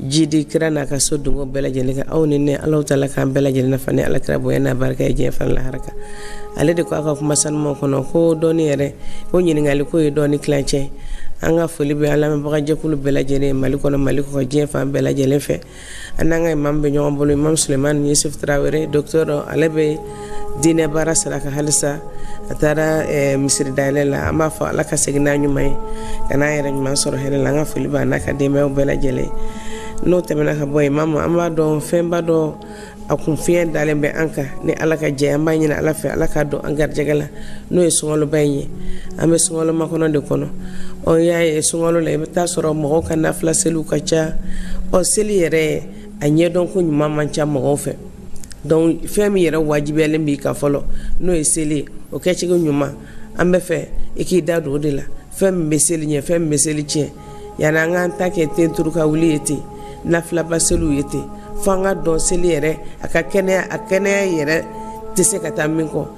jidi kira n'a ka so donko bɛɛ lajɛlen kan aw ni ne ala taala k'an bɛɛ lajɛlen nafa ni alakira bonya n'a barika ye diɲɛ fan lahara kan ale de ko a ka kuma sanumaw kɔnɔ ko dɔnni yɛrɛ ko ɲininkali k'o ye dɔnni tilancɛ an ka foli bɛ an lamɛnbagajɛkulu bɛɛ lajɛlen mali kɔnɔ mali kɔ diɲɛ fan bɛɛ lajɛlen fɛ an n'an ka imam bɛ ɲɔgɔn bolo imam sulemani yusuf tarawele docteur ale bɛ dinɛ baara sira kan halisa a taara eh, misiri dayɛlɛ la an b'a fɔ ala ka segin n'a ɲuman ye ka n'a yɛrɛ ɲuman sɔrɔ hɛrɛ la an ka foli b'a n'a ka denbayaw bɛɛ lajɛlen n'o tɛmɛna ka bɔ yen mama an b'a dɔn fɛnba dɔ a kun fiɲɛ dalen bɛ an kan ni ala ka jɛ an b'a ɲini ala fɛ ala k'a don an garijɛgɛ la n'o ye sunkaloba in ye an bɛ sunkalo makɔnɔ de kɔnɔ ɔ y'a ye sunkalo la i bɛ t'a sɔrɔ mɔgɔw ka nafila seliw ka ca ɔ seli yɛrɛ a ɲɛdɔn ko ɲuman man ca mɔgɔw fɛ donc fɛn min yɛrɛ wajibiyalen b'i kan fɔlɔ n'o ye seli o kɛcogo ɲuman an b'a fɛ i k'i da don o de la fɛn min bɛ seli ɲɛ fɛn min bɛ seli tiɲɛ yanni an k'an ta kɛ tenturu ka wuli ye ten nafilaba seliw ye ten fo an k'a dɔn seli yɛrɛ a ka kɛnɛya a kɛnɛya yɛrɛ tɛ se ka taa min kɔ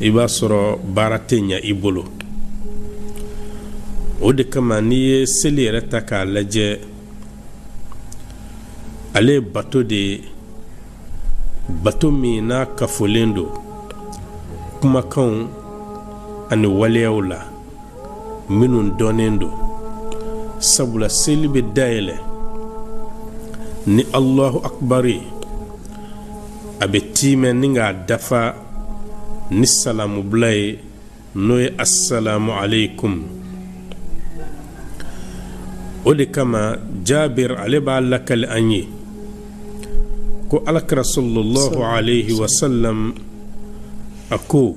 i b'a sɔrɔ baara tɛ ɲɛ i bolo o de kama n'i ye seli yɛrɛ ta k'a lajɛ ale ye bato de ye bato min n'a kafolen don kumakanw ani waleyaw la minnu dɔnnen don sabula seli bɛ dayɛlɛ ni allahu akbar ye a bɛ tiimɛ ni k'a dafa ni salamubila ye n'o ye assalamu alaikum o de kama jabir ale b'a lakali an ye ko alakira sallallahu alaihi wasallam a ko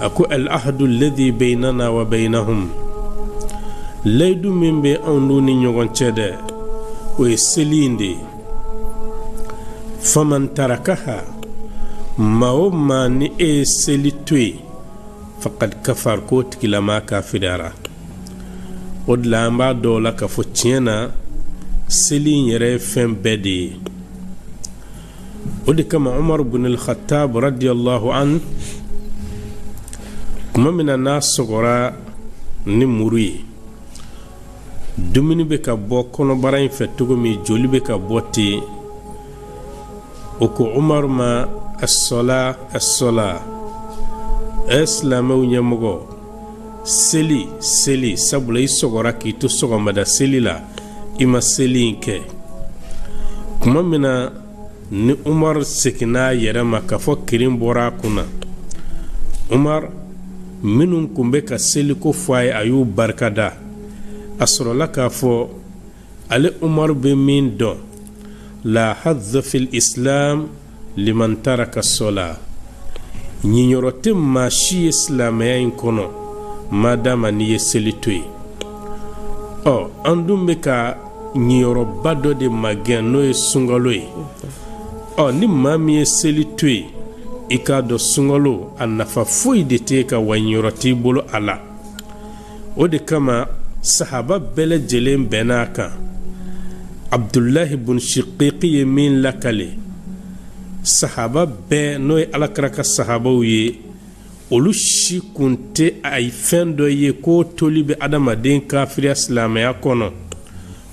a ko al ahadu alladhi baynana wa baynahum layidu min bɛ anw n'u ni ɲɔgɔn cɛ dɛ o ye seli in de ye faman tarakaha maa o maa ni e ye seli to yen fakad kafar k'o tigilama kafiriyara o de la an b'a dɔn o la k'a fɔ tiɲɛ na seli in yɛrɛ ye fɛn bɛɛ de ye o de kama umaru bin al-khattab radiyallahu an kuma min na n'a sɔgɔra ni muru ye dumuni bɛ ka bɔ kɔnɔbara in fɛ cogo min joli bɛ ka bɔ ten u ko umaru ma asɔla asɔla ɛ silamɛw ɲɛmɔgɔ seli seli sabula i sɔgɔra k'i to sɔgɔmada seli la i ma seli in kɛ kuma min na ni umar seginna a yɛrɛ ma k'a fɔ kirin bɔra a kunna umar minnu kun bɛ ka seliko fɔ a ye a y'u barikada a sɔrɔla k'a fɔ ale umaru bɛ min dɔn la haza fil islam liman taraka sɔla ɲinyɔrɔ tɛ maa si ye silamɛya in kɔnɔ madama n'i ye seli to yen ɔ an dun bɛ ka ɲinyɔrɔba dɔ de magɛn n'o ye sunkalo ye ɔ ni maa min ye seli to yen i k'a dɔn sunkalo a nafa foyi de t'i kan wa ɲinyɔrɔ t'i bolo a la o de kama sahaba bɛɛ lajɛlen bɛnna a kan abdulahi bun shiqiqi ye min lakale sahaba bɛɛ n'o ye alakira ka sahabaw ye olu si kun tɛ a ye fɛn dɔ ye k'o toli bɛ adamaden kafiriya silamɛya kɔnɔ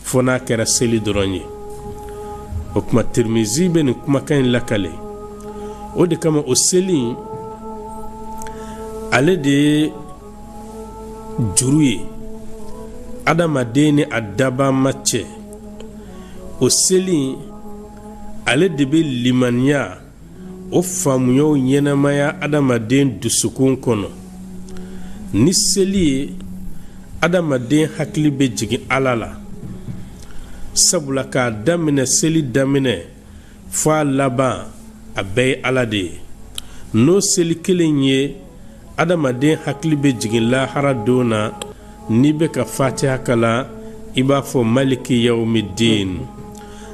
fo n'a kɛra seli dɔrɔn ye o kuma tirimizi bɛ nin kumakan in lakale o de kama o seli in ale de ye juru ye adamaden ni a dabama cɛ o seli ale de bɛ limaniya o faamuyaw ɲɛnamaya adamaden dusukun kɔnɔ ni seli ye adamaden hakili bɛ jigin ala la sabula k'a daminɛ seli daminɛ fo a laban a bɛɛ ye ala de ye n'o seli kelen ye adamaden hakili bɛ jigin lahara don na n'i bɛ ka fatiya kalan i b'a fɔ maliki yawmi din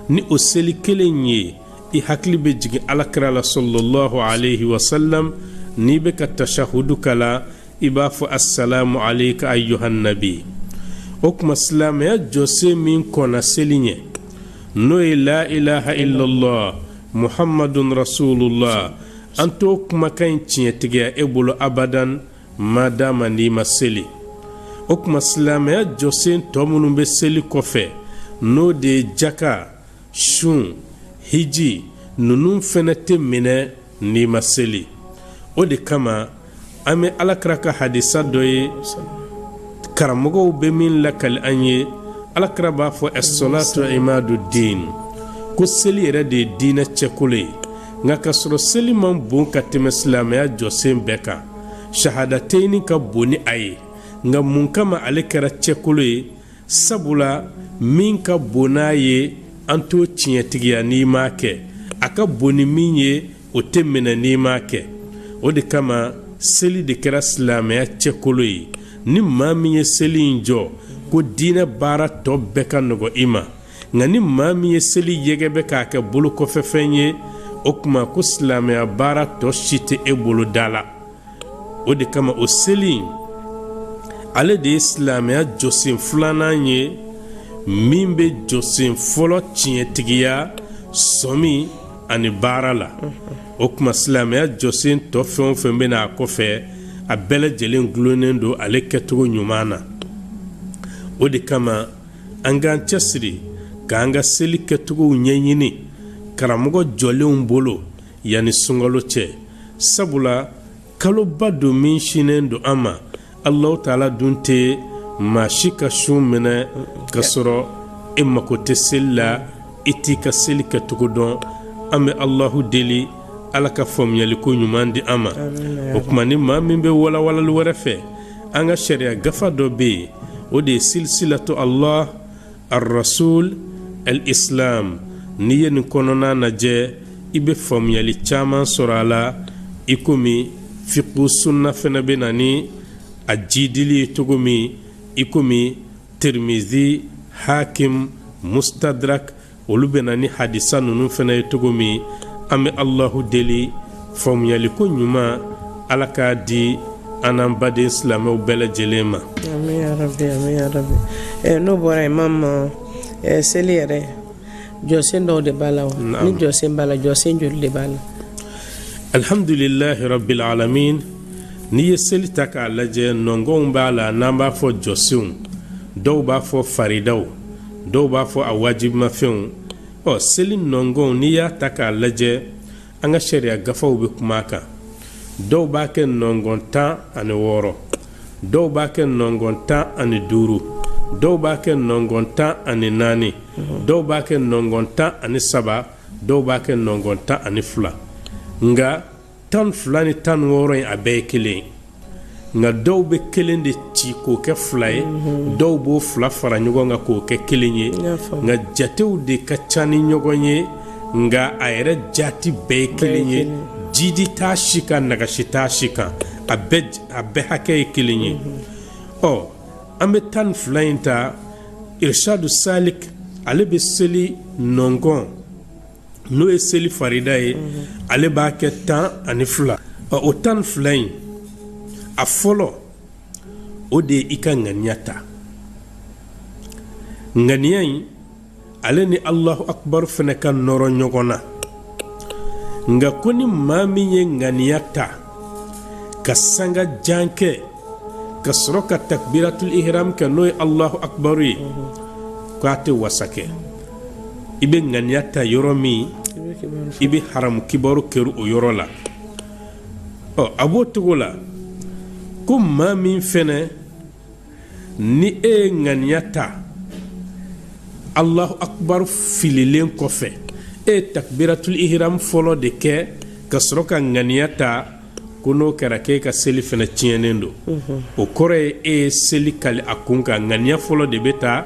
ni o seli kelen ye i hakili bɛ jigin alakira la sallallahu alayhi wa sallam n'i bɛ ka tashahudu kalan i b'a fɔ assalamu alayka ayyuhan nabi o kuma silamɛya jɔsen min kɔnna seli ɲɛ n'o ye la ilaha illallah muhammadun rasulullah an t'o kumakan in tiɲɛtigiya e bolo abadan madama n'i ma seli o kuma silamɛya jɔsen tɔ minnu bɛ seli kɔfɛ n'o de ye jaka sun hiji ninnu fɛnɛ tɛ minɛ n'i ma seli o de kama an bɛ alakira ka hadisa dɔ ye karamɔgɔw bɛ min lakali an ye alakira b'a fɔ asolatu imadu din ko seli yɛrɛ de ye diinɛ cɛkolo ye nka k'a sɔrɔ seli man bon ka tɛmɛ silamɛya jɔsen bɛɛ kan shahadateyini ka bon ni a ye nka mun kama ale kɛra cɛkolo ye sabula min ka bon n'a ye an t'o tiɲɛtigiya n'i m'a kɛ a ka bon ni min ye o tɛ minɛ n'i m'a kɛ o de kama seli de kɛra silamɛya cɛkolo ye ni maa min ye seli in jɔ ko diinɛ baara tɔ bɛɛ ka nɔgɔ i ma nka ni maa min ye seli yɛgɛ bɛ k'a kɛ bolo kɔfɛfɛn ye o tuma ko silamɛya baara tɔ si tɛ e bolo da la o de kama o seli in ale de ye silamɛya jɔsen filanan ye min bɛ jɔsen fɔlɔ tiɲɛtigiya sɔmi ani baara la o tuma silamɛya jɔsen tɔ fɛn o fɛn bɛ na a kɔfɛ a bɛɛ lajɛlen gulonnen don ale kɛcogo ɲuman na o de kama an k'an cɛsiri k'an ka seli kɛcogow ɲɛɲini karamɔgɔ jɔlenw bolo yanni sunkalo cɛ sabula kaloba don min sinnen don an ma alahu taala dun tɛ maa si ka sun minɛ ka sɔrɔ e mako tɛ seli la i t'i ka seli kɛcogo dɔn an bɛ alahu deli ala ka faamuyaliko ɲuman di an ma o tuma ni maa min bɛ walawalali wɛrɛ fɛ an ka sariya gafa dɔ bɛ yen o de ye silisilatu allah arrasul al islam n'i ye nin kɔnɔna lajɛ i bɛ faamuyali caman sɔrɔ a la i komi fiku sunna fana bɛ na ni a jidili ye cogo min i komi tirimizi hakim mustadrak olu bɛ na ni hadisa ninnu fana ye cogo min an bɛ allahu deli faamuyaliko ɲuman ala k'a di an n'an baden silamɛw bɛɛ lajɛlen ma n'o bɔra imam seli yɛrɛ jɔsen dɔw de b'a la ni jɔsen b'a la jɔsen joli de b'a la alihamdulilahi rabil alamin n'i ye seli ta k'a lajɛ nɔngɔnw b'a la n'an b'a fɔ jɔsenw dɔw b'a fɔ faridaw dɔw b'a fɔ a wajibimafɛnw ɔ seli nɔngɔn n'i y'a ta k'a lajɛ an ka sariya gafaw bɛ kuma a kan dɔw b'a kɛ nɔngɔn tan ani wɔɔrɔ dɔw b'a kɛ nɔngɔn tan ani duuru dɔw b'a kɛ nɔngɔn tan ani naani dɔw b'a kɛ nɔngɔn tan ani saba dɔw b'a kɛ nɔngɔn tan ani fila nka tan ni fila ni tan ni wɔɔrɔ in a bɛɛ ye kelen ye nka dɔw bɛ kelen de ci k'o kɛ fila ye dɔw b'o fila fara ɲɔgɔn kan k'o kɛ kelen ye nka jatew de ka ca ni ɲɔgɔn ye nka a yɛrɛ jati bɛɛ ye kelen ye jidi t'a si kan nagasi t'a si kan a bɛɛ hakɛ ye kelen ye ɔ an bɛ tan ni fila in ta irishadu salik ale bɛ seli nɔnkɔn n'o ye seli farida ye ale b'a kɛ tan ani fila o tan ni fila in a fɔlɔ o de ye i ka ŋaniya ta ŋaniya in ale ni alahu akubaru fɛnɛ ka nɔrɔ ɲɔgɔn na nka ko ni maa min ye ŋaniya ta ka sanga jan kɛ ka sɔrɔ ka takbiratul ihram kɛ n'o ye alahu akbaru ye ko a tɛ wasa kɛ i bɛ ŋaniya ta yɔrɔ min i bɛ alahu akbaru kɛrun o yɔrɔ la ɔ a b'o cogo la ko maa min fɛnɛ ni e ye ŋaniya ta alahu akbaru fililen kɔfɛ e ye takbiratul ihram fɔlɔ de kɛ ka sɔrɔ ka ŋaniya ta ko n'o kɛra k'e ka seli fɛnɛ tiɲɛnen don o kɔrɔ ye e ye seli kali a kun kan ŋaniya fɔlɔ de bɛ ta